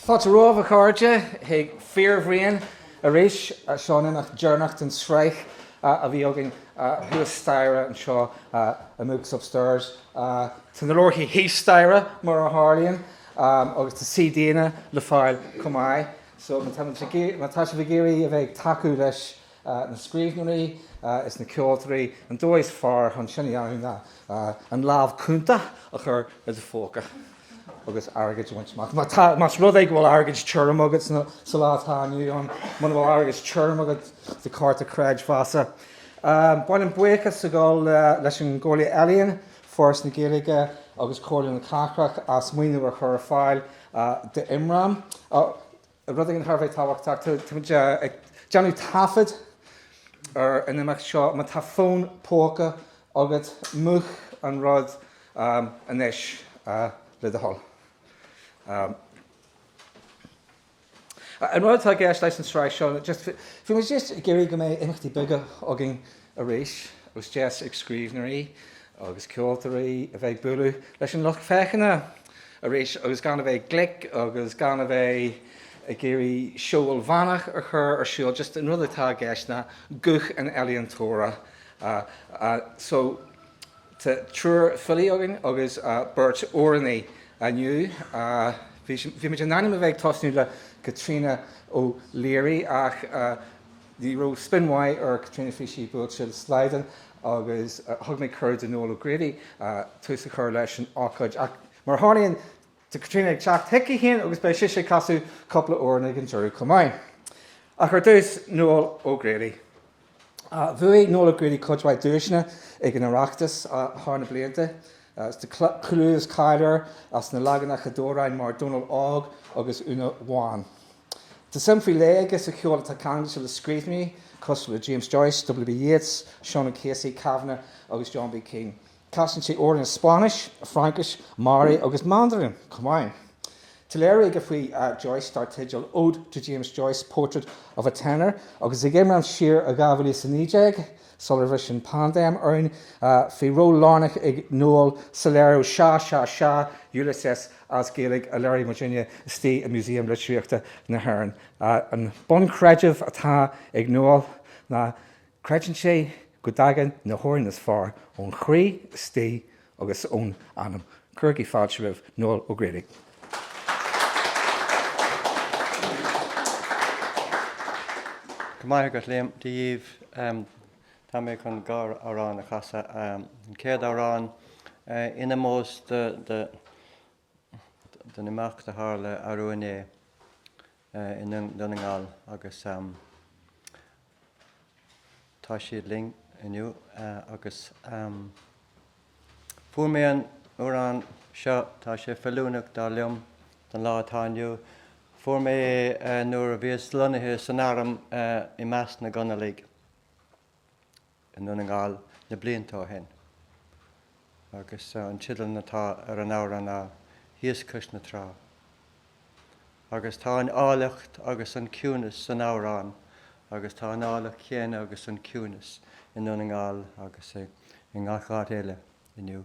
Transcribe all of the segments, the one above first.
Fáilte romhaibh, a chairde, chuig Fíorbhraon arís, seo an imeacht deireanach den sraith a bhí againn thuas staighre anseo i mBooks Upstairs. Tá na leabharthaí thíos staighre, mar a tharlaíonn, agus tá CDanna le fáil chomh maith, so má tá sibh ag iarraidh a bheith ag tacú leis na scríbhneoirí is na ceoltóirí, an dóigh is fearr chun sin a dhéanamh ná an lámh chúnta a chur i do phóca agus airgead a bhaint amach. Más rud é go bhfuil airgead tirim agat sa lá atá inniu ann, muna bhfuil airgead tirim agat do chárta creidmheasa, ba mhaith liom buíochas a ghabháil leis an gComhairle Ealaíon, Foras na Gaeilge agus Comhairle na Cathrach as maoiniú a chur ar fáil d'IMRAM. Rud éigin thar a bheith tábhachtach, táimid ag déanamh taifead ar an imeacht seo. Má tá fón póca agat, múch an rud anois, le do thoil. An rud atá i gceist leis an tsraith seo, bhí muid just ag iarraidh go mbeidh imeachtaí beaga againn Arís, is deis ag scríbhneoirí agus ceoltóirí a bheith ag bualadh leis an lucht féachana arís agus gan a bheith glic agus gan a bheith ag iarraidh seó ilmheánach a chur ar siúl, just an rud atá i gceist ná guth an ealaíontóra. So, tá triúr filí againn agus beirt amhránaí inniu. Bhí muid in ainm a bheith ag tosnú le Caitríona O'Leary ach, Ní raibh spion mhaith ar Caitríona, bhí sí buailte le slaghdán agus thug mé cuireadh do Noel O'Grady tús a chur leis an ócáid ach mar a tharlaíonn, tá Caitríona ag teacht chuici féin agus beidh sise ag casadh cúpla amhrán ag an deireadh chomh maith. Ach ar dtús, Noel O'Grady. Bhuaigh Noel O'Grady cuid mhaith duaiseanna ag an Oireachtas thar na blianta, tá clú is cáil air as na leaganacha d'amhráin mar 'Dónall Óg' agus 'Úna Bhán'. Tá suim faoi leith aige sa cheol atá ceangailte le scríbhneoirí cosúil le James Joyce, W.B. Yeats, Seán O'Casey, Kavanagh agus John B. Keane. Casann sé amhráin i Spáinnis, Fraincis, Maori agus Mandarin chomh maith. Tá léiriú aige faoi Joyce dar teideal Ode to James Joyce, Portrait of a Tenor agus ag IMRAM siar i 2019, sular bhris an pandéim orainn, bhí ról lárnach ag Noel sa léiriú Sea, Sea, Sea, Ulysses, as Gaeilge a léirigh muidne istigh i Músaem Litríochta na hÉireann. An bunchreideamh atá ag Noel ná creideann sé go dtagann na hamhráin is fearr ón chroí istigh agus ón anam. Cuirigí fáilte roimh Noel O'Grady. Go raibh maith agat, Liam. Dia dhaoibh. Tá mé chun dhá amhrán a chasadh. An chéad amhrán in ómós don imeacht a tharla arú inné i nDún na nGall agus tá siad linn inniu agus fuair mé an t-amhrán seo, tá sé feiliúnach dar liom don lá atá inniu. Fuair mé é nuair a bhíos lonnaithe san arm i measc na gConallach. i nDún na nGall na blianta ó shin agus an teideal atá ar an amhrán ná 'Thíos Cois na Trá'. Agus tá an áilleacht agus an ciúnas san amhrán agus tá an áilleacht chéanna agus an ciúnas i nDún na nGall agus i ngach áit eile inniu.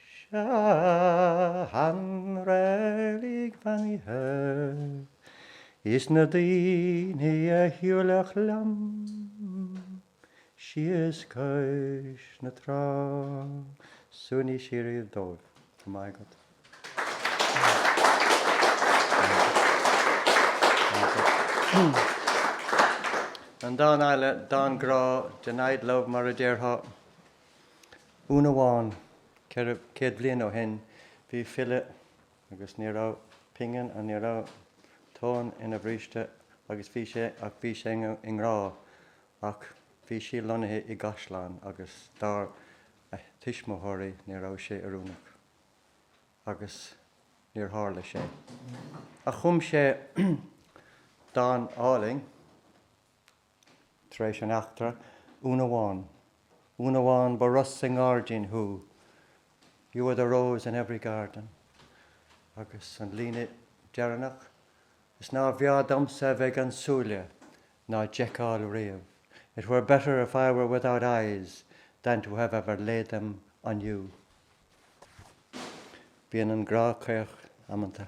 Sa reilig bheannaithe, is na daoine a shiúlfadh liom thíos cois na trá. Suaimhneas síoraí dóibh go raibh maith agat. An dán eile, dán grá, denied love mar a déarfá. Úna Bhán, ceithre chéad bliain ó shin, bhí file agus ní raibh pingin aige, ní raibh tóin ina bhríste agus bhí sé, ach bhí sé i ngrá ach bhí sí lonnaithe i gcaisleán agus dar lena tuismitheoirí ní raibh sé oiriúnach agus níor tharla sé. Ach chum sé dán álainn. Tar éis an eachtra, Úna Bhán, Úna Bhán, ba rós i ngáirdín thú, You are the rose in every garden. Agus an líne deireanach, Is nárbh fhearr domsa a bheith gan súile ná d'fheiceáil riamh, It were better if I were without eyes than to have ever laid them on you. Bíonn an grá caoch amanta.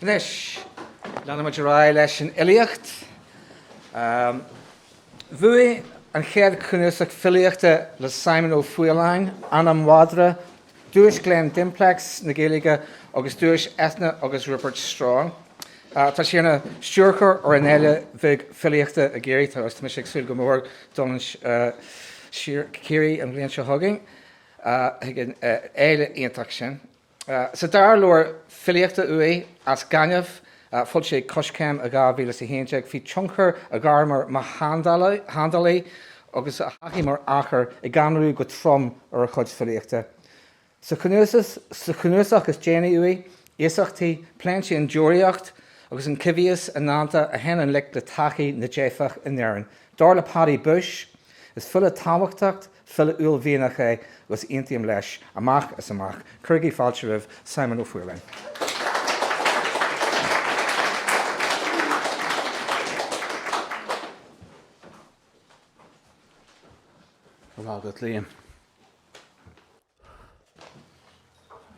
Anois, leanann muid ar aghaidh leis an fhilíocht. Bhuaigh an chéad chnuasach filíochta le Simon Ó Faoláin, Anam Mhadra, Duais Glen Dimplex na Gaeilge agus Duais Eithne agus Rupert Strong. Tá sé ina stiúrthóir ar an Fhéile Bheag Filíochta i gCiarraí, tá mise ag súil go mór dul go Ciarraí an bhliain seo chugainn chuig an fhéile iontach sin. Sa dara leabhar filíochta uaidh, As Gaineamh, a d'fhoilsigh Coiscéim i 2011. Bhí tionchar a ghairme mar sheandálaí agus a thaithí mar athair i gCamarú go trom ar a chuid filíochta. Sa chnuasach is déanaí uaidh, Iasachtaí, pléann sé an deoraíocht agus an coimhthíos i ndánta a théann i ngleic le taithí na dteifeach in Éirinn. Dar le Paddy Bushe, is file tábhachtach File uaillmhianach é agus aontaím leis amach is amach. Cuirigí fáilte roimh Simon Ó Faoláin.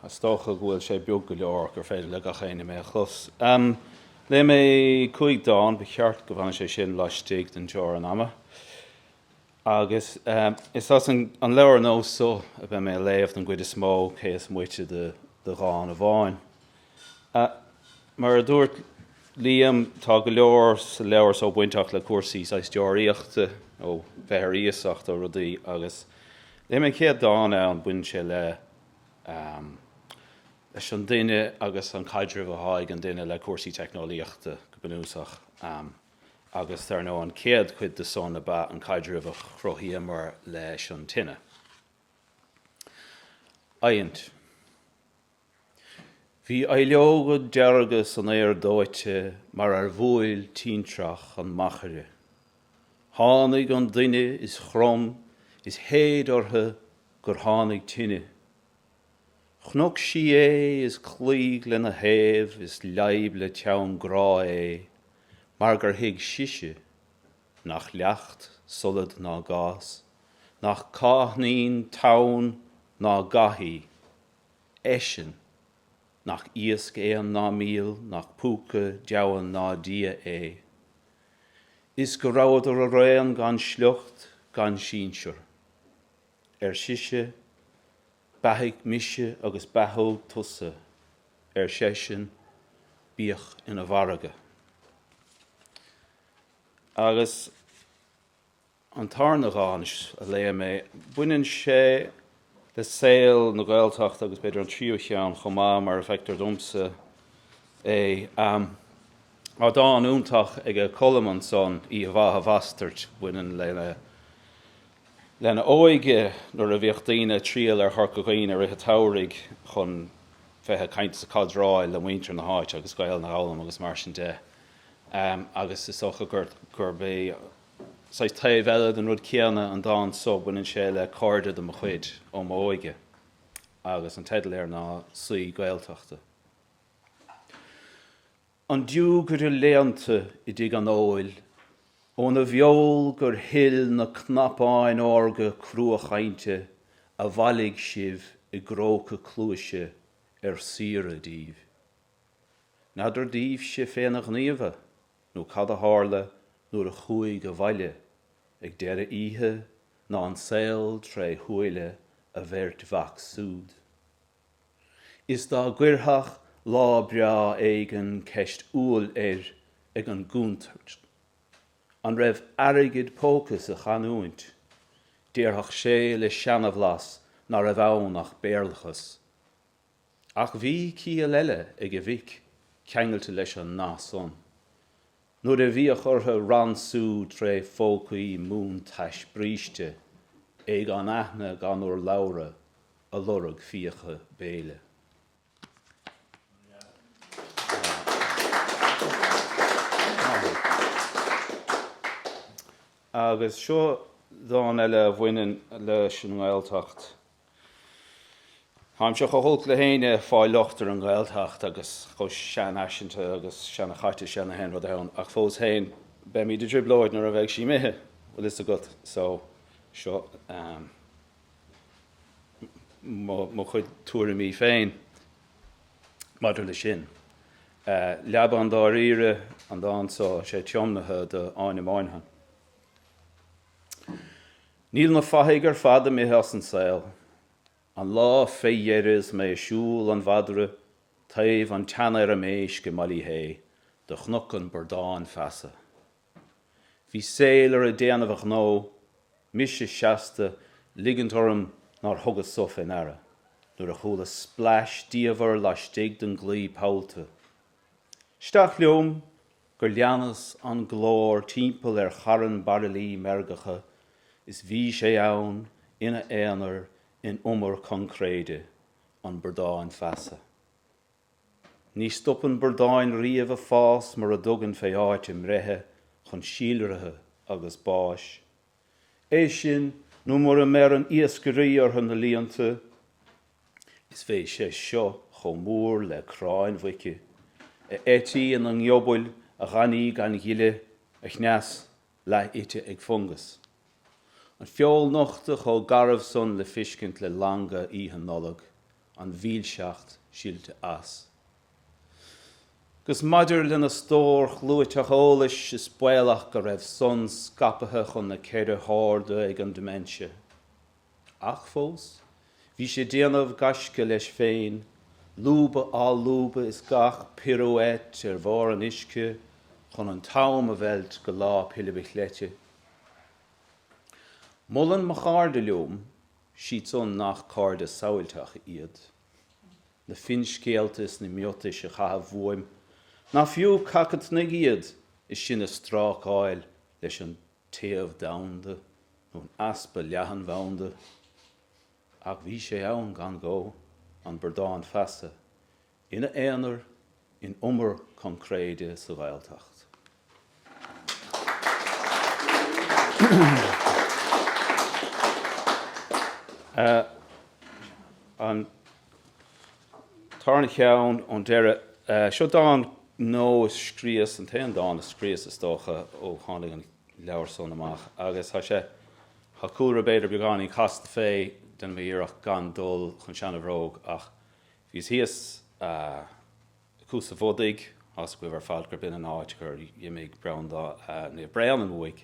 Is dócha go bhfuil sé beag go leor gur féidir le gach éinne mé a chlos. Léifidh mé cúig dán, ba cheart go bhfanadh sé sin laistigh den teorainn ama, agus is as an leabhar nua so a bheidh mé ag léamh don gcuid is mó, cé is moite de dhán amháin. Mar a dúirt Liam, tá go leor sa leabhar so bainteach le cúrsaí saghas deoraíochta, ó bheith ar iasacht ó rudaí agus léifidh mé an chéad dán ann, baineann sé le leis an duine agus an caidreamh atá ag an duine le cúrsaí teicneolaíochta go bunúsach agus dar ndóigh an chéad chuid de san ab ea an caidreamh a chruthaíomar leis an tine. Adhaint. Bhí aibhleoga dearga san fhéar dóite mar ar bhuail tintreach an machaire. Tháinig an duine is chrom is shéid orthu gur tháinig tine. Chonaic sí é is chloígh lena thaobh is leadhb le teann grá é mar gur thuig sise, nach leacht solad ná gás, nach cáithnín tonn ná gath í, eisean. Nach iasc éan ná míol, nach púca, deamhan ná dia é. Is go rabhadar araon gan sliocht gan sinsear. Ar sise, Beathaigh mise agus beathód tusa, ar seisean, bíodh ina mhargadh. Agus. An tarna dhán a léifidh mé, baineann sé le saol na Gaeltachta agus b'fhéidir an tríú cheann chomh maith mar a feictear domsa é. Tá dán iontach ag Colm ansan, 'Oíche Mhaith a Bhastaird', a bhaineann lena óige nuair a bhíodh daoine ag triall ar Chorca Dhuibhne i rith an tsamhraidh chun bheith ag caint is ag cadráil le muintir na háite agus Gaelainn a fhoghlaim agus mar sin de agus is dócha gurb é saghas taobh eile den rud céanna an dán so, baineann sé le cairde de mo chuid óm óige agus an teideal air ná 'Saoi Gaeltachta'. An diúgaire léannta i dtigh an óil, óna bheol gur shil na cnapáin órga crua-chainte a bhailigh sibh i gcróca cluaise ar saoire daoibh. N'fheadar daoibhse féna ghníomha? nó cad a tharla nuair a chuaigh abhaile ag deireadh oíche ná an saol tré shúile a bheirt mhac súd. Is dá gcuirfeadh lá breá éigin ceist umhal air ag an gcúntar an raibh airgead póca sa chanúint, déarfadh sé le seanabhlas ná raibh ann ach Béarlachas. Ach bhí ciall eile ag a mhic ceangailte leis an nath san. Nuair a bhíodh orthu ransú tré phócaí múntais bríste, é gan aithne gan urlabhra ag lorg fiacha béile. Agus seo dán eile a bhaineann leis an nGaeltacht. Táimse chomh holc le héinne ag fáil locht ar an nGaeltacht agus chomh seanfhaiseanta agus seanachaite sin le haon rud ann, ach fós féin, beimid i dtrioblóid nuair a bheidh sí imithe, bhfuil fhios agat, so, seo mo chuid tuairimí féin maidir leis sin. Leaba an Dáiríre an dán so, sé tiomnaithe do Áine Moynihan. Níl na fathaigh ar fad imithe as an saol. An lá fé dheireadh is mé ag siúl an mhadra taobh an tseanfheirm éisc i mBaile Uí Shé do chonac an Bradán Feasa. Bhí Sailor ag déanamh a ghnó, mise seasta 'ligint orm nár thugas so fé ndeara, nuair a chuala splais diamhair laistigh den gclaí pollta. Isteach liom gur leanas an glór timpeall ar charn bairillí meirgeacha is bhí sé ann ina aonar in umar coincréide, an Bradán Feasa. Ní stopann bradáin riamh ag fás mura dtugann fé áit a mbreithe chun síolraithe agus báis É sin, nó mura mbeireann iascairí orthu ina líonta, is bhí sé seo chomh mór le cráin mhuice, a eití ina ngiobail, a ghainní gan ghile, a chneas leath-ite ag fungas. An feoil nochta chomh garbh san le fiscint le langa Oíche Nollag. an mhilseacht silte as. Agus maidir lena stór chlúiteach eolais, is baolach go raibh san scaipthe chun na ceithre harda ag an dementia. Ach fós, bhí sé ag déanamh gaisce leis féin, lúba á lúbadh is gach pirouette ar bharr an uisce chun an t-am a mheilt go Lá Pilib a' Chleite. Molann mo chairde liom Siadsan nach cairde samhailteacha iad, na finscéalta is na miotais a chaitheamh uaim, nach fiú cac an tsnaig iad is sinn ag strácáil leis an téamh domhanda nó an easpa leathanbhanda. Ach bhí sé ann gan ghó, an Bradán Feasa, Ina aonar in umar concréide sa Ghaeltacht. An tarna cheann ón deireadh. Seo dán nua a scríos, an t-aon dán a scríos is dócha ó tháinig an leabhar san amach agus tá sé, tá cúlra b'fhéidir beagáinín casta fé, déanfaidh mé iarracht gan dul chun seana bhróg ach Bhíos thíos ag Cuas an Bhodaigh, tá 'fhios agaibh ar fad, gurb in an áit gur dh'imigh Breandán Naomh Bréanainn uaidh,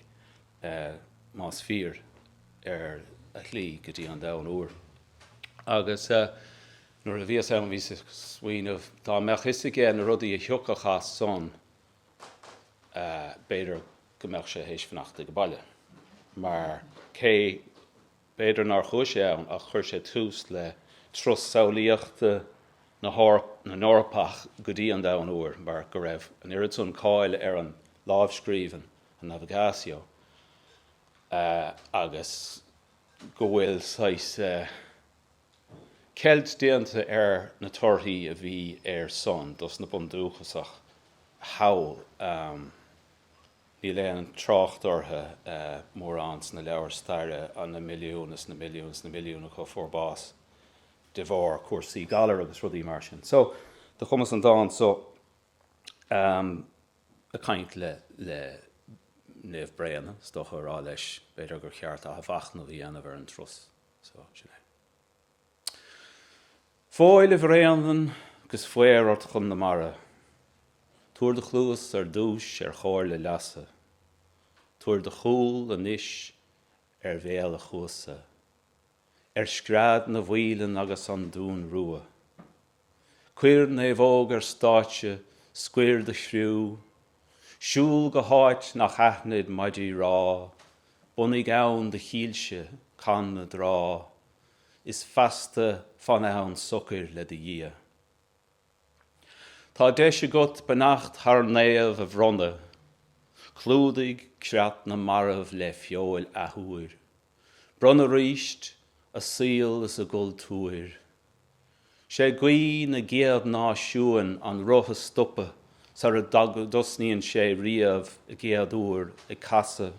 más fíor, ar a shlí go dtí an Domhan Úr. Agus nuair a bhíos ann bhíos ag smaoineamh, dá mbeadh 'fhios aige na rudaí a thiocfadh as san, b'fhéidir go mbeadh sé théis fanacht age baile, mar cé. B'fhéidir nár chuaigh sé ann ach chuir sé tús le turas samhlaíochta na nEorpach go dtí an Domhan Úr mar go raibh an oiread san cáil ar an lámhscríbhinn, an Navigatio, agus go bhfuil saghas ceilt déanta ar na torthaí a bhí ar san dos na bundúchasach thall. Níl aon trácht orthu mórán sna leabhair staire, an na milliúin is na milliúin is na milliúin acu a fuair bás de bharr cúrsaí galair agus rudaí mar sin. So, do chumas an dán so ag caint le Naomh Bréanainn, is dócha, á rá leis b'fhéidir gur cheart athmhachnamh a dhéanamh ar an turas so, sin é. Fóill, a Bhréanainn, agus faobhar ort chun na mara. Tabhair do chluas ar dtúis ar chomhairle leasa, tabhair do chúl anois ar bhéal an Chuasa, ar scread na bhfaoilean agus an dún rua. Cuir naomhóg ar stáitse, scoir do chriú, siúl go háit nach aithnid maidí rámha, bunaigh ann do chillse, can na dtráth, is feasta fan ann socair le do Dhia. Tá deis agat beannacht thar naomh a bhronnadh, clúdaigh creat na marbh le feoil athuair, bronn aríst a saol is a gcultúr. 'Sé guí na gcéad náisiún an roth a stopadh sar a dtosnaíonn sé riamh i gcéaduair ag casadh.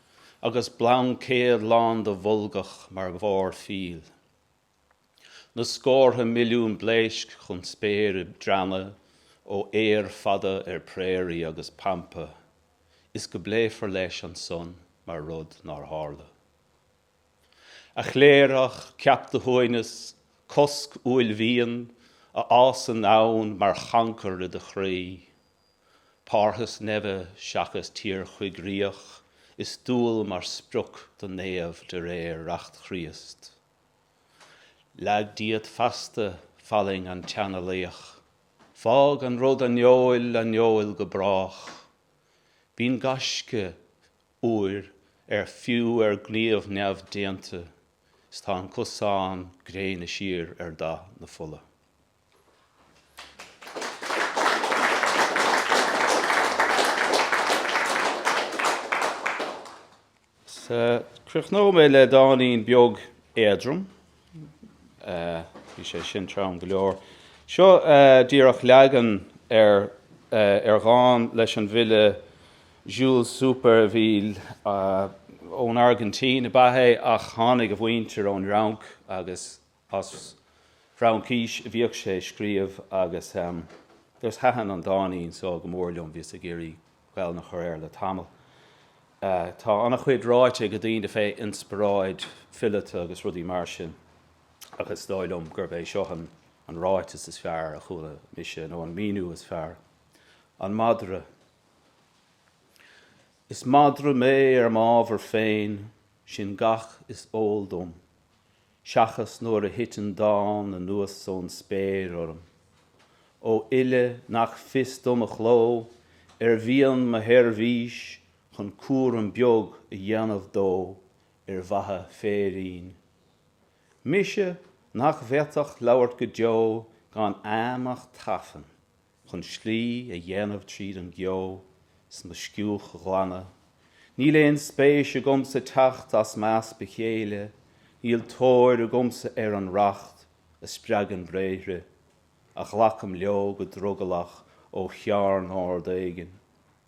agus blaincéad lán de bholgach mar bharr fill. Na scórtha milliún blaoisc chun spéire ag drannadh ó fhéar fada ar prairie agus pampa is go bpléifear leis ansan mar rud nár tharla. A chléireach, ceap do shuaimhneas, cosc uaillmhian a fhásann ann mar chancar i do chroí. Parthas neimhe seachas tír choigríoch is dual mar sprioc do naomh de réir reacht Chríost. Leag díot feasta fallaing an tseanalaoich. Fág an rud aineoil aineoil go brách. Bíonn gaisce, uair, ar fiú ar gníomh neamhdéanta is tá an cosán gréine siar ar dath na fola. Críochnóidh mé le dáinín beag éadrom. Bhí sé sin trom go leor. Seo díreach leagan ar ar dhán leis an bhfile Jules Supervielle. Ón Airgintín ab ea é ach tháinig a mhuintir ón Fhrainc agus As Fraincis a bhíodh sé ag scríobh agus thaitin an dáinín so go mór liom, bhíos ag iarraidh Gaolainn a chur air le tamall. Tá an-chuid ráite ag daoine fé inspioráid fileata agus rudaí mar sin ach is dóigh liom gurb é seo an ráiteas is fearr a chuala mise, nó an míniú is fearr, An Madra Is madra mé ar m'ábhar féin, sin gach is eol dom. seachas nuair a thiteann dán anuas ón spéir orm ó fhile nach fios dom a chló, ar mhian mo sheirbhís chun cúram beag a dhéanamh dó ar mhaithe féirín. Mise nach bhféadfadh labhairt go deo gan agam ach tafann chun slí a dhéanamh tríd an gceo is mo sciúch a ghlanadh, níl aon spéis agamsa teacht as m'easpa chéille, níl tóir agamsa ar an racht a spreagann bréithre, a ghlacaim leo go drogallach ó chearn ard éigin.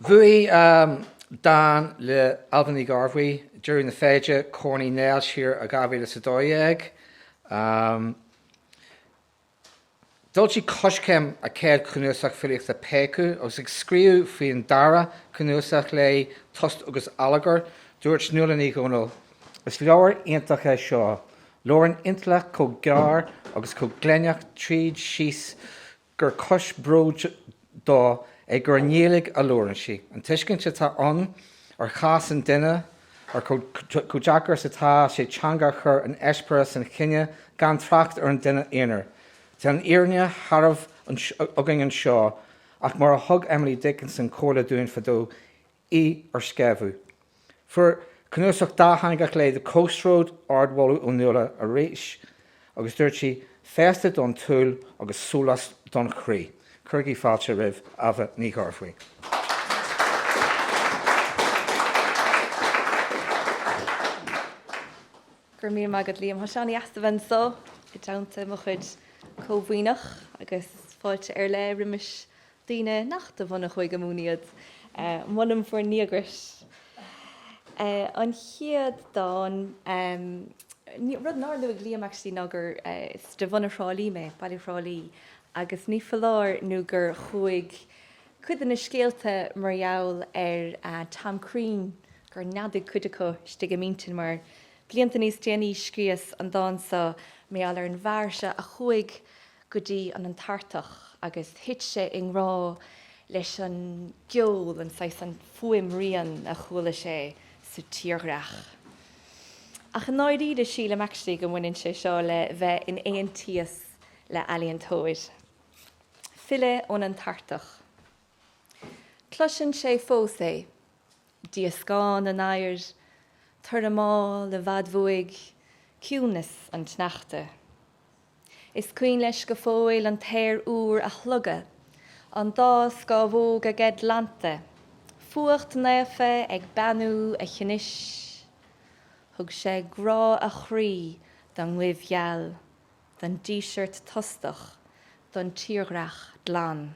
Bhuaigh dán le Ailbhe Ní Ghearbhuigh, 'Deireadh na Feide', Corn Uí Néill siar i 2012. D'fhoilsigh Coiscéim a céad chnuasach filíochta 'Péacadh' agus ag scríobh faoin dara cnuasach léi, 'Tost agus Allagar', dúirt Nuala Ní Dhomhnaill, 'Is leabhar iontach é seo, labhrann intleacht chomh géar agus chomh gléineach tríd síos gur cúis bróid dó é gur i nGaeilge a labhrann sí, an tuiscint atá ann ar chás an duine, ar chomh deacair is atá sé teanga a chur in eispéireas an chine, gan trácht ar an duine aonair. Tá an fhírinne shearbh againn anseo, ach mar a thug Emily Dickinson comhairle dúinn fadó, í ar sceabha. Fuair cnuasach dátheangach léi, The Coast Road, ardmholadh ó Nuala arís agus dúirt sí, Féasta don tsúil agus sólás don chroí. Cuirigí fáilte roimh Ailbhe Ní Ghearbhuigh. Go raibh míle maith agat Liam, tá sé an-dheas a bheith anso i dteannta mo chuid comh-Mhuimhneach agus fáilte ar leith roimis daoine nach de bhunadh Chúige Mumhan iad. Molaim bhur ndíograis. An chéad dán, rud nár luaigh Liam actually ná gur, is de bhunadh Thrá Lí mé, Baile Thrá Lí, agus ní foláir nó gur chuaigh cuid de na scéalta mar gheall ar Tom Crean, gur neadaigh cuid acu istigh i m'intinn mar blianta níos déanaí scríos an dán seo mar gheall ar an bhfear seo a chuaigh go dtí an Antartach agus thit sé i ngrá leis an gceol, an saghas, an fuaimrian a chuala sé sa tírdhreach. Ach i ndáiríre, sílim actually go mbaineann sé seo le bheith in aontíos le ealaíontóir. Filleadh ón Antartach. Cloiseann sé fós é, díoscán an oighir, tormáil i bhfad uaidh, ciúnas an tsneachta. Is cuimhin leis go fóill an t-aer úr a shlogadh, an dá scamhóg aige glanta, fuacht naofa ag beannú a chnis. Thug sé grá a chroí don ngoimh gheal, don díseart tostach, don tírdhreach glan.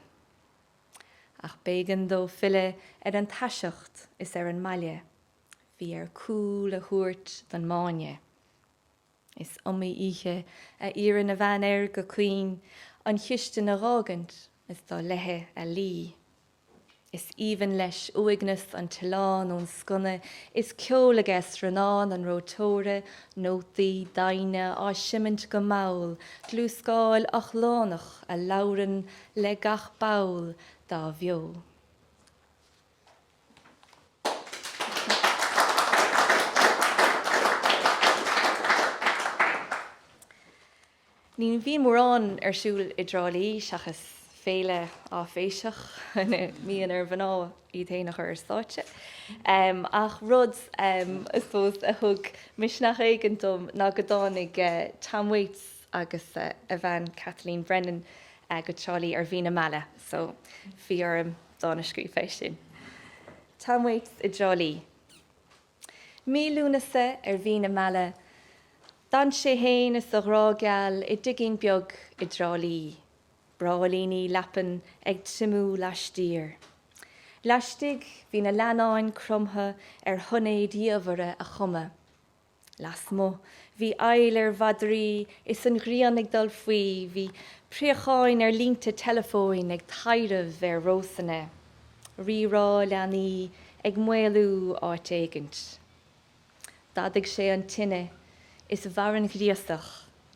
Ach b'éigean dó filleadh ar an taiseacht is ar an mbaile. Bhí air cúl a thabhairt don mbáine. Is iomaí oíche a iarrann a bhean air go caoin an chistin a dh'fhágaint is dul léithi a luí. Is aoibhinn leis uaigneas an tsileáin ón sconna is ceol aige srannán an reoiteora, nótaí, doimhne, á seimint go mall, dlúscáil ochlánach a labhrann le gach ball dá bheo. Ní bhíonn mórán ar siúl i dTrá Lí seachas féile áiféiseach ina mbíonn ar mhná iad féin a chur ar stáitse, ach rud I suppose a thug misneach éigin dom ná go dtáinig Tom Waits agus a bhean Kathleen Brennan go Trá Lí ar mhí na meala so bhí orm dán a scríobh fé sin. Tom Waits i dTrá Lí. Mí Lúnasa ar mhí na meala, d'fhan sé fhéin is a ghrá geal i dtigín beag i dTrá Lí. Bráillíní leapan ag triomú laistiar. Laistigh, bhí na leannáin cromtha ar shoinéid dhiamhaire a chumadh. Lasmuigh, bhí éill ar mhadraí is an ghrian ag dul faoi, bhí préacháin ar línte teileafóin ag taidhreamh ar rósanna, rí-rá leanaí ag maolú áit éigint. D'fhadaigh sé an tine is mhair an ghríosach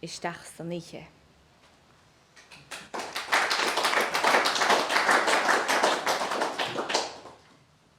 isteach san oíche.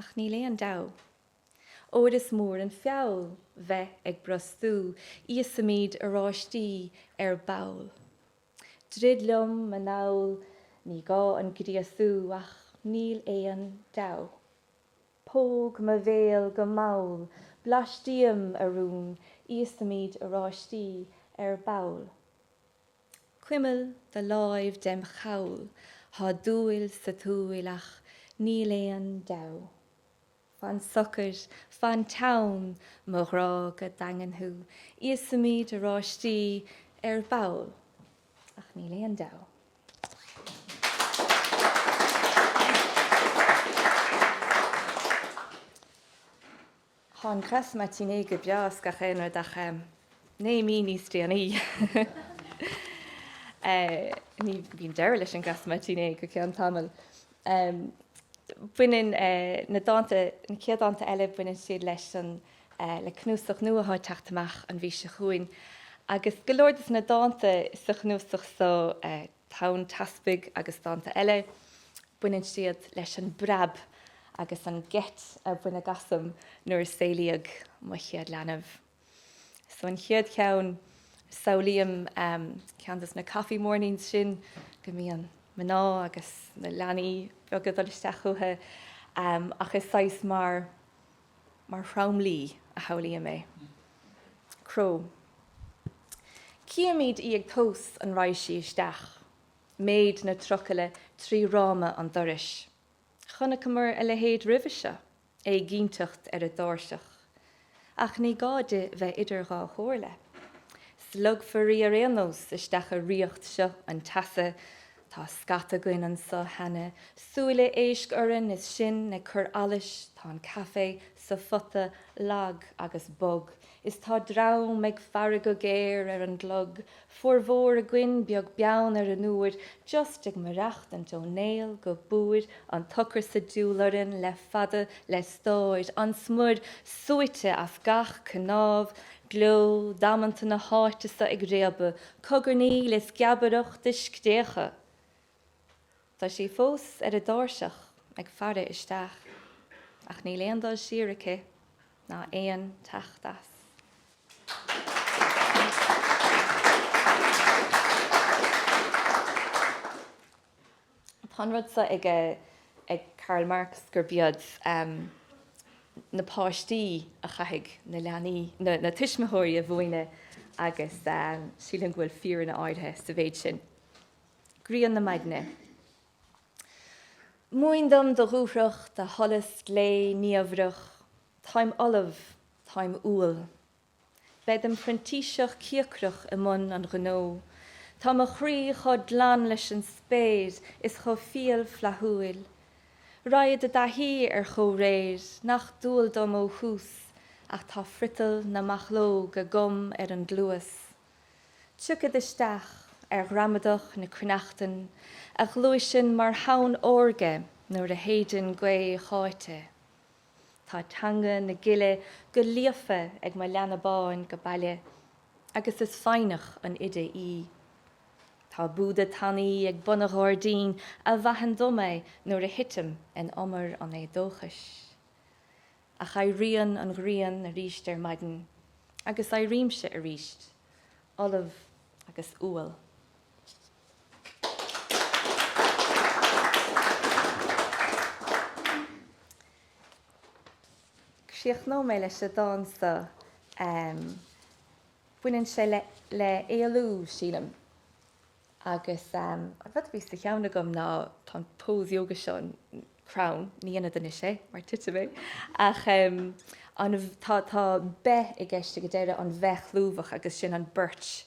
Ach níl aon deabhadh. Óir is mór an feall bheith ag brostú, íosfaimid oráistí ar ball. Drid liom anall, ní gá an gríosú, ach níl aon deabhadh. Póg mo bhéal go mall, blais díom, a rún, íosfaimid oráistí ar ball. Cuimil do láimh dem' chabhail, thá dúil sa tsúil ach níl aon deabhadh. Fan socair, fan teann, mo ghrá go daingean thú, íosfaimid oráistí ar ball ach níl aon deabhadh. Thá an grasse matinée go breá is gach aon rud ach naoi mí níos déanaí, bíonn deireadh leis an grasse matinée go ceann tamaill, baineann na dánta, na chéad dánta eile, baineann siad leis an, le cnuasach nua atá ag teacht amach an mhí seo chugainn agus go leor des na dánta sa chnuasach so, Tonn Teaspaigh agus dánta eile, baineann siad leis an bpreab agus an ngeit a baineadh asam nuair a saolaíodh mo chéad leanbh. So an chéad cheann, samhlaím ceann dos na coffee mornings sin go mbíonn mná agus na leanaí beaga ag dul isteach chucu ach is saghas mar, mar thromluí a shamhlaím é. Cró. Chímid í ag tomhas an raghaidh sí isteach, méid na trucaile trí fhráma an dorais. Chonaiceamar a leithéid roimhe seo, éiginnteacht ar an dtairseach. Ach ní gá di bheith idir dhá chomhairle. Slogfar í ar aon nós isteach i ríocht seo an teasa Tá scata againn anso cheana, súile éisc orainn is sinn ag cur allais, tá an caife sa phota lag agus bog, is tá dream ag faire go géar ar an gclog, formhór againn beag beann ar an uair, just ag maireachtaint ó néal go búir, an t-ocras ag diúl orainn le fada, le stáir, an smior súite as gach cnámh, gleo damanta na háite so ag réabadh cogarnaíl is geabaireacht de scréacha. Tá sí fós ar an dtairseach ag faire isteach, ach níl aon dul siar aici ná aon teacht as. Tá an rud seo ag Karl Marx gurb iad na páistí a chaithfidh na leanaí, na tuismitheoirí a mhúineadh agus sílim go bhfuil fírinne áirithe sa mhéid sin. Grian na Maidne. Múin dom do dhúthracht, do sholas glé niamhrach, táim ullamh, táim umhal, Bead im phrintíseach cíocrach i mbun an ghnó. Tá mo chroí chomh glan leis an spéir is chomh fial flaithiúil. Raghad i dtaithí ar chomhréir nach dual dom ó thús, ach tá friotal na mbachlóg agam ar an gcluas. Tiocfad isteach ar ghramadach na cruithneachtan a ghluaiseann mar thonn órga nuair a shéideann gaoth cháite. Tá teanga na gile go líofa ag mo leanbh bán go baile agus is foighneach an oide í. Tá Búda tanaí ag bun an ghairdín a mhaitheann dom é nuair a thitim in umar an éadóchais. Ach éiríonn an ghrian aríst ar maidin agus éirímse aríst, ullamh agus umhal. Críochnóidh mé leis an dán so. Baineann sé le éalú, sílim, agus an rud a bhí sa cheann agam ná, tá an pose yoga seo, an crann, ní dhéanfad anois é mar titfidh mé, ach tá beith i gceist ag an deireadh, an bheith chlúmhach agus sin an birch.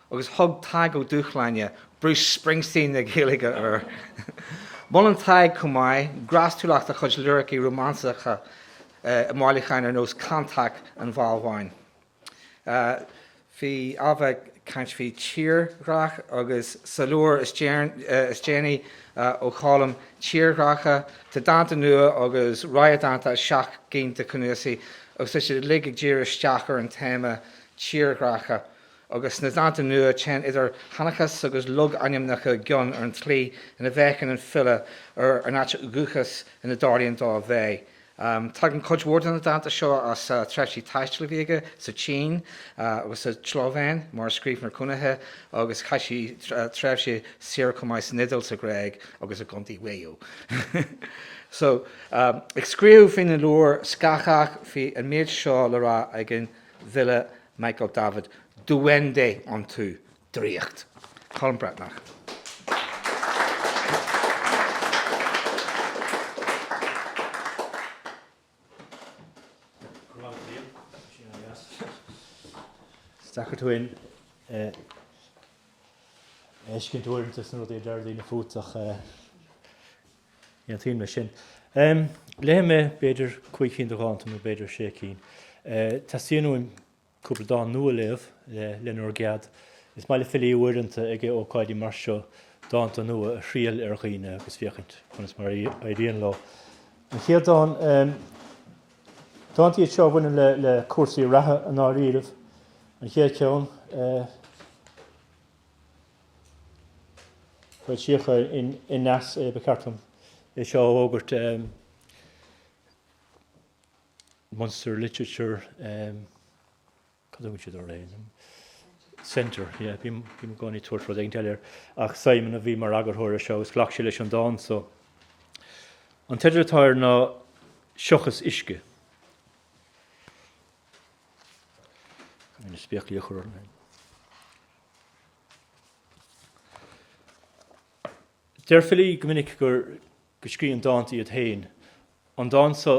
Agus thug Tadhg Ó Dúshláine Bruce Springsteen na Gaeilge air! Molann Tadhg chomh maith grástúlacht a chuid liricí rómánsacha i mbailiúcháin ar nós Cantaic an Bhalbháin, bhí Ailbhe ag caint faoi tírdhreach, agus sa leabhar is déanaí ó Cholm, Tírdhreacha, tá dánta nua agus rogha dánta as seacht gcinn de chnuasaigh, agus tá siad uilig ag díriú isteach ar an téama tírdhreacha. agus sna dánta nua téann idir sheanchas agus logainmneacha i gcion ar an tslí ina bhféachann an file ar an áit dhúchais ina dtarlaíonn dó a bheith. Tagann cuid mhór de na dánta seo as tréimhsí taistil a bhí aige sa tSín agus sa tSlóivéin mar scríbhneoir cónaithe agus chaith sé tréimhse saoire chomh maith san Iodáil, sa Ghréig agus i gContae Mhaigh Eo. So, ag scríobh faoina leabhar Scáthach bhí an méid seo le rá ag an bhfile Michael Davitt, Duende iontu! Draíocht! Colm Breathnach. Is deacair tú féin a fheiscint uaireanta sna rudaí a deir daoine fút ach. Aontaím leis sin. Léifidh mé b'fhéidir cúig cinn de dhánta nó b'fhéidir sé cinn. Teastaíonn uaim cúpla dán nua a léamh, le nbhur gcead. Is maith le filí uaireanta ag ócáidí mar seo dánta nua a thriail ar dhaoine agus féachaint conas mar a éiríonn leo. An chéad dán, dánta iad seo a bhaineann le cúrsaí reatha i ndáiríribh, an chéad cheann, Foilsíodh in Aneas é, ba cheart dom é seo a fhógairt, Munster Literature, cad a thugann siad air? Centre, yeah, bím i gcónaí ag tabhairt rud éigin eile air, ach Simon a bhí mar eagarthóir ar seo agus ghlac sé leis an dán so. An teideal atá air ná Seachas Uisce. Caithfidh mé na spéaclaí a chur orm fhéin. Deir filí go minic gur go scríobhann dánta iad féin. An dán so,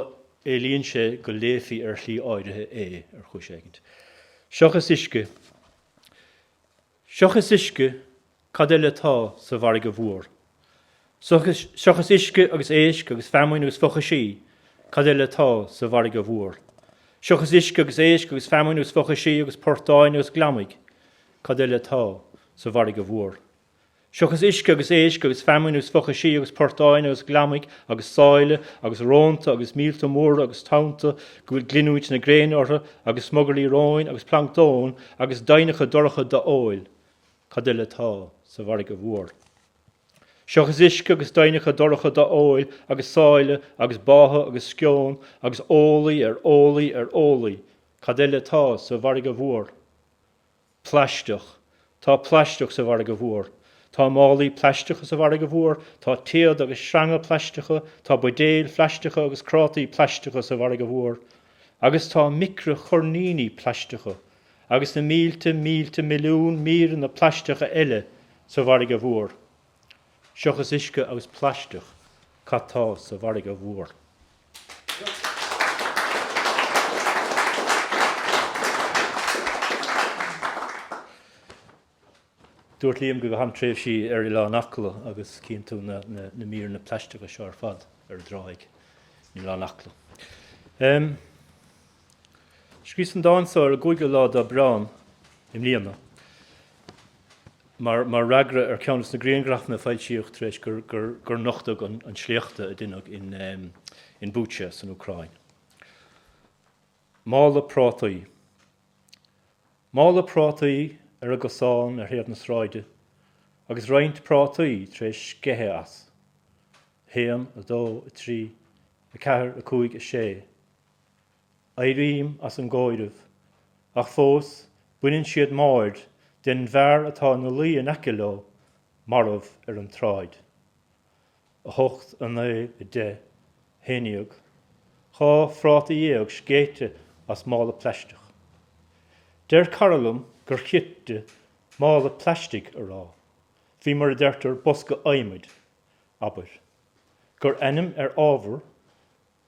éilíonn sé go léifí ar shlí áirithe é, ar chúis éigint. Seachas uisce. Seachas uisce, cad eile atá sa bhfarraige mhór? Seachas uisce agus éisc agus feamainn agus fochaisí, cad eile atá sa bhfarraige mhór? Seachas uisce agus éisc agus feamainn agus fochaisí agus portáin agus gliomaigh, cad eile atá sa bhfarraige mhór? Seachas uisce agus éisc agus feamainn agus fochaisí agus portáin agus gliomaigh agus sáile agus rónta agus míolta móra agus tonnta go bhfuil glinniúint na gréine orthu agus smugairlí róin agus planctón agus doimhneacha dorcha do-eoil Cad eile atá sa bhfarraige mhór? Seochas uisce agus doimhneacha dorcha do-eoil agus sáile agus báthadh agus sceon agus ólaí ar ólaí ar ólaí, cad eile atá sa bhfarraige mhór? Plaisteach. Tá plaisteach sa bhfarraige mhór. Tá málaí plaisteacha sa bhfarraige mhór, tá téad agus sreanga plaisteacha, tá buidéil phlaisteacha agus crátaí plaisteacha sa bhfarraige mhór. Agus tá micreachoirníní plaisteacha agus na mílte mílte milliún míreanna plaisteacha eile sa bhfarraige mhór. Seachas uisce agus plaisteach, cad tá sa bhfarraige mhór? Dúirt Liam go gcaithim tréimhsí ar Oileán Acla agus cíonn tú na míreanna plaisteacha seo ar fad ar an dtráigh in Oileán Acla. Scríos an dán so ar an gcúigiú lá d'Aibreán i mbliana mar fhreagra ar ceann des na grianghrafanna a foilsíodh tar éis gur nochtadh an sléachtadh a deineadh in Bucha san Úcráin. Mála prátaí. Mála prátaí ar an gcosán ar thaobh na sráide agus roinnt prátaí tar éis sceitheadh as. A haon, a dó, a trí, a ceathair, a cúig, a sé. Éirím as an gcomhaireamh, ach fós baineann siad m'aird den bhfear atá ina luí in aice leo, marbh ar an tsráid. 8, 9, 10, 11, Dhá phráta dhéag scéite as mála plaisteach. Deir cara liom gur chirte 'mála plaistigh' a rá, faoi mar a deirtear 'bosca adhmaid', abair. Gur ainm ar ábhar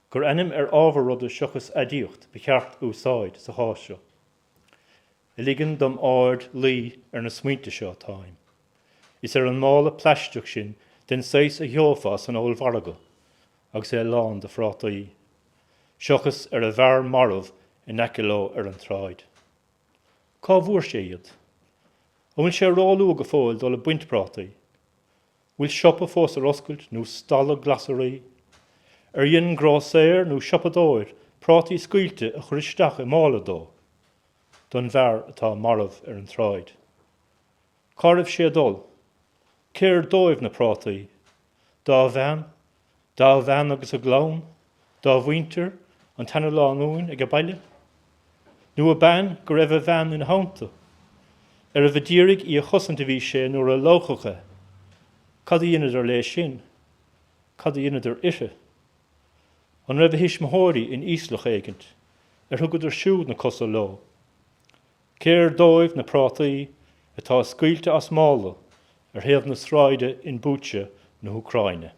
Gur ainm ar ábhar ruda seachas aidiacht ba cheart a úsáid sa chás seo. ligean dom aird luí ar na smaointe seo atáim, is ar an mála plaisteach sin den saghas a gheofá san ollmhargadh agus é lán de phrátaí, seochas ar an bhfear marbh in aice leo ar an tsráid. Cá bhfuair sé iad? An bhfuil sé róluath go fóill dul ag baint prátaí? bhfuil siopa fós ar oscailt nó stalla glasraí? Ar dhein grósaeir nó siopadóir prátaí scaoilte a chur isteach i mála dó, don bhfear atá marbh ar an tsráid? Cá raibh sé ag dul? Cér dóibh na prátaí? Dá bhean, Dá bhean agus a gclann, dá mhuintir, an tseanalánúin age baile? Nó ab ann go raibh a bhean ina theannta? Arbh a d'iarraidh í a chosaint a bhí sé nuair a lámhachadh é? Cad a dheineadar léi sin? Cad a dheineadar uirthi? An raibh a thuismitheoirí in íoslach éigint, ar thugadar siúd na cosa leo? Cér dóibh na prátaí atá scaoilte as mála ar thaobh na sráide in Bucha na hÚcráine?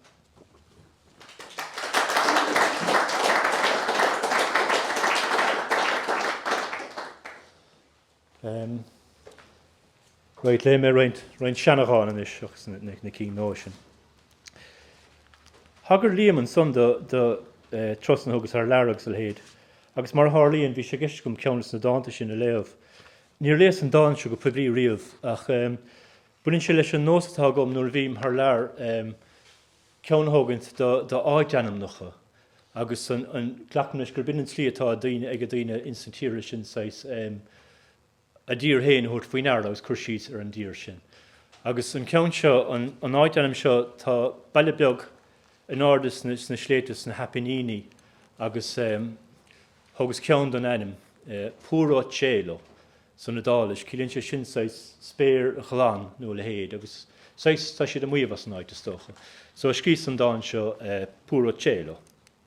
Right, léigh mé roinnt, roinnt seanadhán anois agus na, na, na cinn nua sin. Thagair Liam ansan do, do eh, turasanna a thugas thar lear agus a leithéid agus mar a tharlaíonn bhí sé i gceist agam ceann des na dánta sin a léamh. Níor léas an dán seo go poiblí riamh ach em, baineann sé leis an nós atá agam nuair a bhím thar lear em, ceann a thógaint do, do áitainmneacha agus an, an, glacaim leis gurb in an tslí atá daoine, age daoine ins na tíortha sin saghas em, a dtír fhéin a thabhairt faoi ndeara agus cur síos ar an dtír sin. Agus an ceann seo, an áitainm seo, tá baile beag in airde sna sléibhte sna hAipiníní agus thógas ceann don ainm, Puro Cielo san Iodáilis, ciallaíonn sé sin saghas spéir ghlan nó a leithéid agus saghas, tá siad ag maíomh as an áit is dócha. So scríos an dán seo Puro Cielo.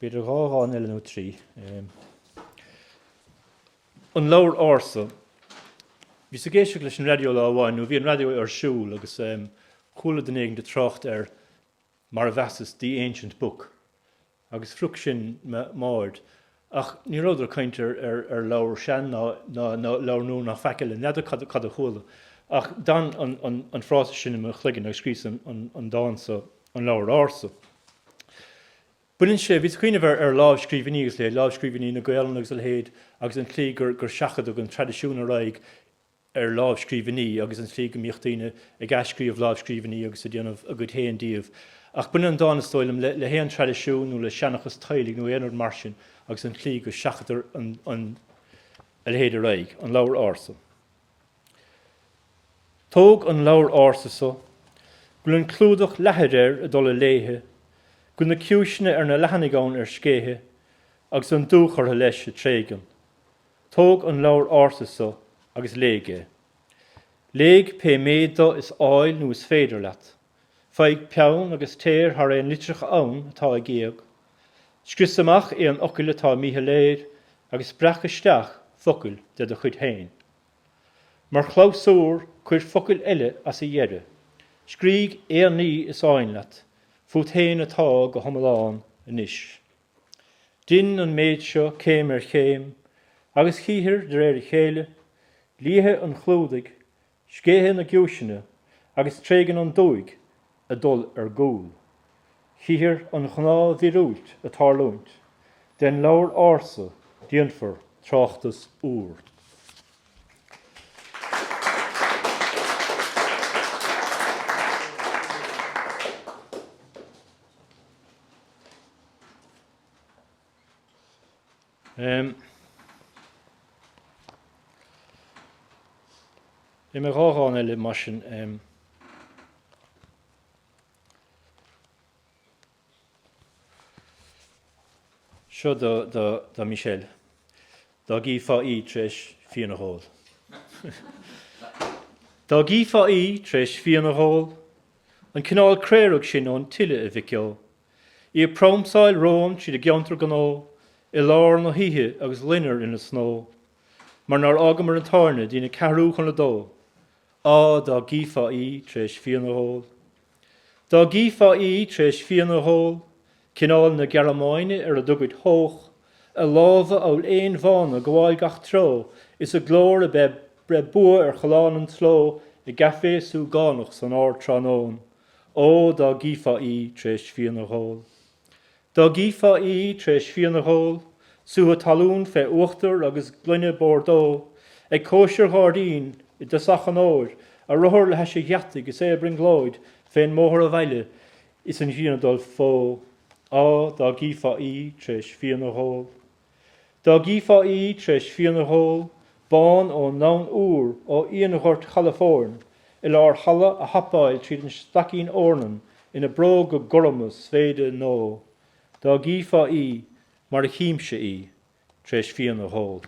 B'fhéidir dhá dhán eile nó trí. An Leabhar Ársa. Bhíos ag éisteacht leis an raidió lá amháin, nó bhí an raidió ar siúl, agus chuala duine éigin ag trácht ar mar a mheasas The Ancient Book, agus phrioc sin m'aird. Ach ní rabhadar ag caint ar leabhar sean ná leabhar nua ná faic eile, n'fheadar cad a chuala, ach d'fhan an frása sin i mo chloigeann agus scríos an dán so, An Leabhar Ársa. Baineann sé, bhíos ag cuimhneamh ar lámhscríbhinní agus a leithéid, lámhscríbhinní na Gaelainne agus a leithéid agus an tslí gur seachadadh an traidisiún ar aghaidh, ar lámhscríbhinní agus an tslí go mbíodh daoine ag athscríobh lámhscríbhinní agus ag déanamh a gcuid féin díobh. Ach baineann an dán, is dóigh liom, le haon traidisiún nó le seanchas teaghlaigh nó aon rud mar sin agus an tslí go seachadtar a leithéid ar aghaidh. An Leabhar Ársa. Tóg an leabhar ársa so, go bhfuil an clúdach leathair air ag dul i léithe, go bhfuil na ciumhaiseanna ar na leathanaigh ann ar scéitheadh, agus an dúch orthu leis ag tréigean. Tóg an leabhar ársa so agus léigh é. Léigh pé méid de is áil nó is féidir leat. Faigh peann agus téir thar aon litreacha ann atá ag éag. Scrios amach aon fhocail atá míshoiléir agus breac isteach focail de do chuid féin. Mar chlabhsúr, cuir focail eile as a dheireadh. Scrígh aon ní is áin leat fút féin atá go hiomlán anois. Dein an méid seo céim ar chéim, agus chífear de réir a chéile, liathadh an chlúdaigh, scéitheadh na gciumhaiseanna, agus tréigean an dúigh ag dul ar gcúl. Chífear an ghnáthmhíorúilt ag tarlúint. Den leabhar ársa déanfar tráchtas úr. Léifidh mé dhá dhán eile mar sin. Seo do Michelle. Dá gcífeá í tar éis fíon a dh'ól. Dá gcífeá í tar éis fíon a dh'ól, An cineál craorag sin ón tSile, a mhic ó. Í ag pramsáil romham tríd an gceantar gnó i lár na hoíche agus loinnir ina snó mar nár fhágamar an tábhairne dtí'n a ceathrú chun a dó. Á, dá gcífeá í tar éis fíon a dh'ól. Dá gcífeá í tar éis fíon a dh'ól. Cineál na Gearmáine ar a dtugaid Hoch, a lámha amhail éin bhána gabháil gach treo is a glór a beith breith bua ar challán an tsló i gcafé súgánach san ardtráthnóna. Ó, dá gcífeá í tar éis fíon a dh'ól. Dá gcífeá í tar éis fíon a dh'ól, sútha talún fé uachtar agus gloine Bordeaux, ag cóisir ghairdín i dtosach an fhómhair, a rothar le hais a gheataigh is é a brionglóid fén mbóthar abhaile Is an ghrian ag dul fó, Á, dá gcífeá í t'réis fíon a dh'ól, Dá gcífeá í t'réis fíon a dh'ól, Bán ón nDomhan Úr, ó fhíonghort Chalafóirn, I lár halla a hapáil tríd an staicín eornan Ina bróga gorma svaeide nó, Dá gcífeá í mar a chímse í, tar éis fíon a dh'ól.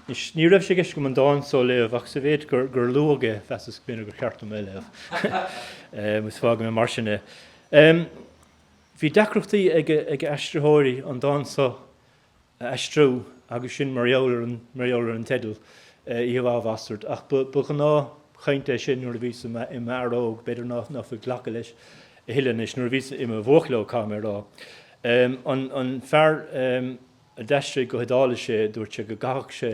Anois, ní raibh sé i gceist agam an dán so a léamh, ach sa mhéid gur luadh é, mheasas go mb'fhéidir gur cheart dom é a léamh, agus fágfaidh mé mar sin é. Bhí deacrachtaí ag aistritheoirí an dán so, a aistriú agus sin mar gheall ar an teideal, Oíche Mhaith, a Bhastaird. Ach ba ghnáthchaint é sin nuair a bhíos i m'fhear óg, b'fhéidir ná fuil glacadh leis a thuilleadh anois, nuair a bhíos i mo bhuachaill óg, caithfidh mé a rá. An fear a d'aistrigh go hIodáilis é, dúirt sé go gcaithfeadh sé.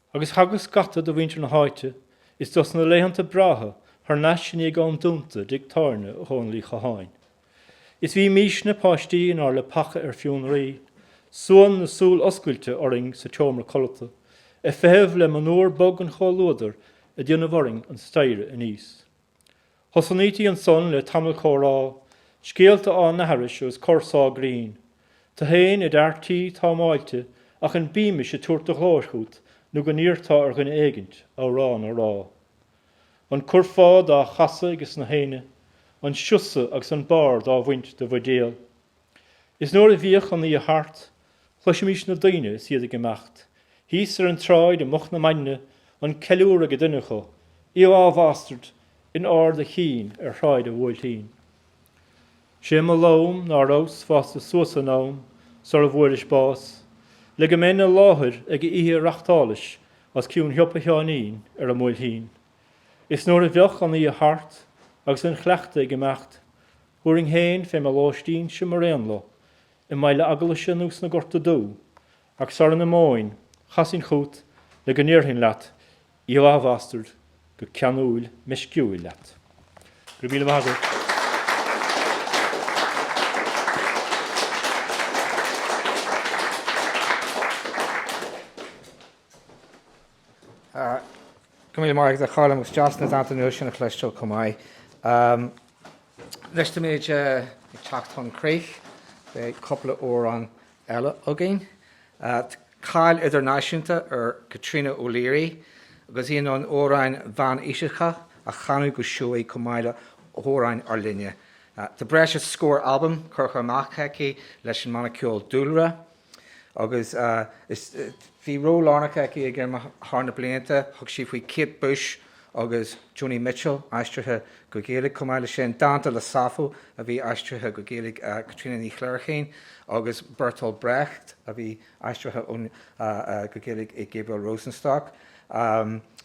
Agus thagadh scata de mhuintir na háite is dos na laethanta breátha thar n-ais i ndiaidh am dúnta i dtigh tábhairne Dhónaill Uí Chatháin. Is bhímisne páistí inár leapacha ar fionraí, suan na súl oscailte orainn sa tseomra codlata, ag feitheamh le monabhar bog an chomhluadair ag déanamh orainn an staighre aníos. Thosnaítí ansan le tamall comhrá, scéalta á n-aithris agus corr sá grinn. Tú fhéin id fhear tí, támáilte, ach an Beamish ag tabhairt do ghlóir chút nó go n-iarrtá ar dhuine éigint amhrán a rá? An curfá dá chasadh ages na haoinne, an siosadh agus an barr dá bhaint de bhuidéal. Is nuair a bhíodh an oíche thart, chloisimis na daoine is iad ag imeacht, thíos ar an tsráid i moch na maidine, an ceiliúr ag duine acu, Oíche mhaith, a bhastaird, in ard a chinn ar Shráid a' Bhuailtín. 'Sé mo lom ná rabhas fásta suas in am sara bhfuairis bás, le go mbeinn i láthair ag oíche a reachtálais os cionn shiopa Sheáinín ar a' mBuailtín. Is nuair a bheadh an oíche thart agus an chuileachta ag imeacht, Thabharfainn fhéin fé mo lóistínse mar aon leo, i mBaile Eaglaise nó sna Gorta Dubha, ach sara n-imeoinn, chasfainn chút le go ndéarfainn leat oíche mhaith, a bhastaird go ceanúil meisciúil leat. Go raibh míle maith agat. Go raibh míle maith agat a Choilm, agus deas na dánta nua sin a chloisteáil chomh maith. Anois táimid ag teacht chun críche, beidh cúpla amhrán eile againn. Tá cáil idirnáisiúnta ar Chaitríona O'Leary agus í in ann amhráin mheánaoiseacha a chanadh go seoigh chomh maith le hamhráin ár linne. Tá breis is scór albam curtha amach aici leis an mbanna ceoil Dúlra. Agus bhí ról lárnach aici ag IMRAM thar na blianta, thug sí faoi Kate Bush agus Joni Mitchell, aistrithe go Gaeilge, chomh maith leis sin, dánta le Sappho a bhí aistrithe go Gaeilge ag Caitríona Ní Chléirchín agus Bertolt Brecht a bhí aistrithe go Gaeilge ag Gabriel Rosenstock.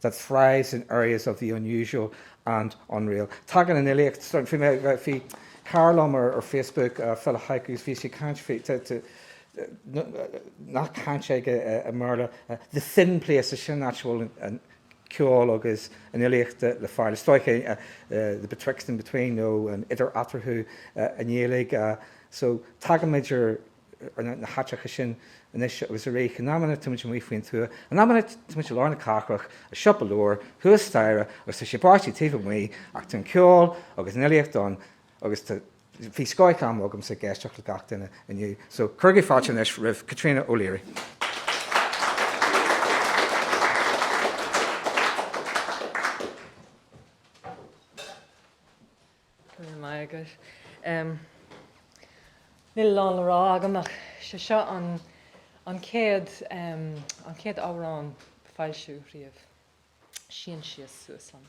that thrives in areas of the unusual and unreal'. Tagann an fhilíocht, bhí cara liom ar Facebook, file haikus, bhí sé ag caint faoi, nath cainte i mBéarla, 'the thin places', sin an áit a bhfuil an ceol agus an fhilíocht le fáil, is dócha 'the betwixt and between' nó an 'idir eatarthu' i nGaeilge. So tagann muid ar. ar na háiteacha sin anois agus arís. In amanna tá muid amuigh faoin tuath, in amanna tá muid i lár na cathrach, i siopa leabhar thuas staighre agus tá sé ag báistigh taobh amuigh ach tá an ceol agus an fhilíocht ann agus tá, bhí scoth am agamsa ag éisteacht le gach duine inniu. So, cuirigí fáilte anois roimh Caitríona O'Leary. Go raibh maith agat. Níl a lán le rá agam ach sé seo an an chéad an chéad amhrán a foilsíodh riamh. Sín síos suas liom.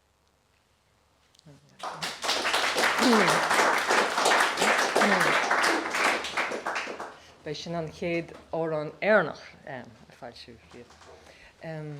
B'é sin an chéad amhrán Éireannach a foilsíodh riamh.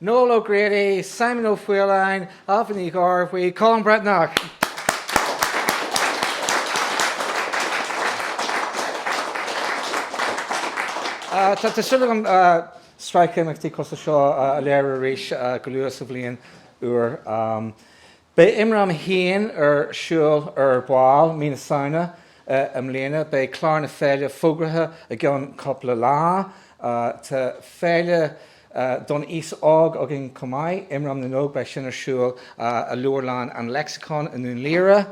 Noel O'Grady, Simon Ó Faoláin, Ailbhe Ní Ghearbhuigh, Colm Breathnach. Tá súil agam sraith imeachtaí cosúil seo a léiriú arís go luath sa bhliain úr. Beidh Imram féin ar siúl ar ball mí na Samhna i mbliana. Beidh clár na féile fógraithe i gceann cúpla lá. Tá féile don aos óg againn chomh maith, Imram na nÓg, beidh sin ar siúl i Leabharlann an Lexicon i nDún Laoghaire.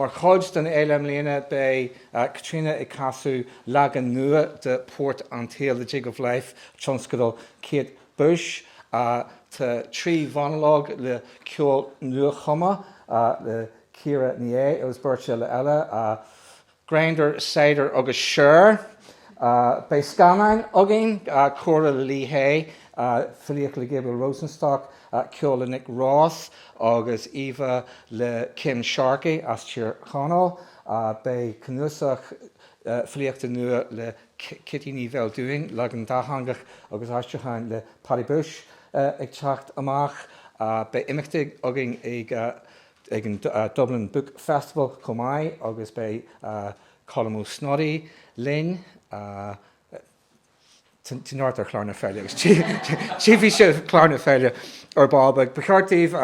Mar chuid den fhéile i mbliana beidh Caitríona ag casadh leagan nua de Port an tSaoil, The Jig of Life, tionscadal Kate Bush. Tá trí mhonalóg le ceol nuachumtha le Ciara Ní É agus beirt eile, Grindr, Saghdar agus Cher. Beidh scannáin againn, comhrá le Lí Hè, filíocht le Gabriel Rosenstock, ceol le Nick Roth agus íomhá le Kim Sharkey as Tír Chonaill. Beidh cnuasach filíochta nua le Ceaití Ní Bheildiúin, leagan dátheangach agus aistriúcháin le Paddy Bushe, ag teacht amach. Beidh imeachtaí againn ag an Dublin Book Festival chomh maith agus beidh Colm Ó Snodaigh linn. Tá neart ar chlár na féile agus tchífidh sibh clár na féile ar ball beag. Ba cheart daoibh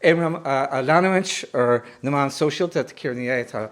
IMRAM a leanúint ar na meáin sóisialta, Ciara Ní É atá.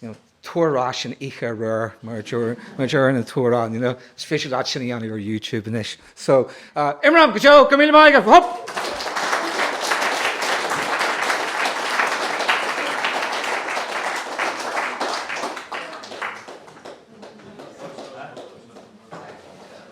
you know, tabhair ar ais an oíche aréir mar a deir an t-amhrán, you know, is féidir leat sin a dhéanamh ar YouTube anois. So, IMRAM, go deo, go raibh míle maith agat, hup!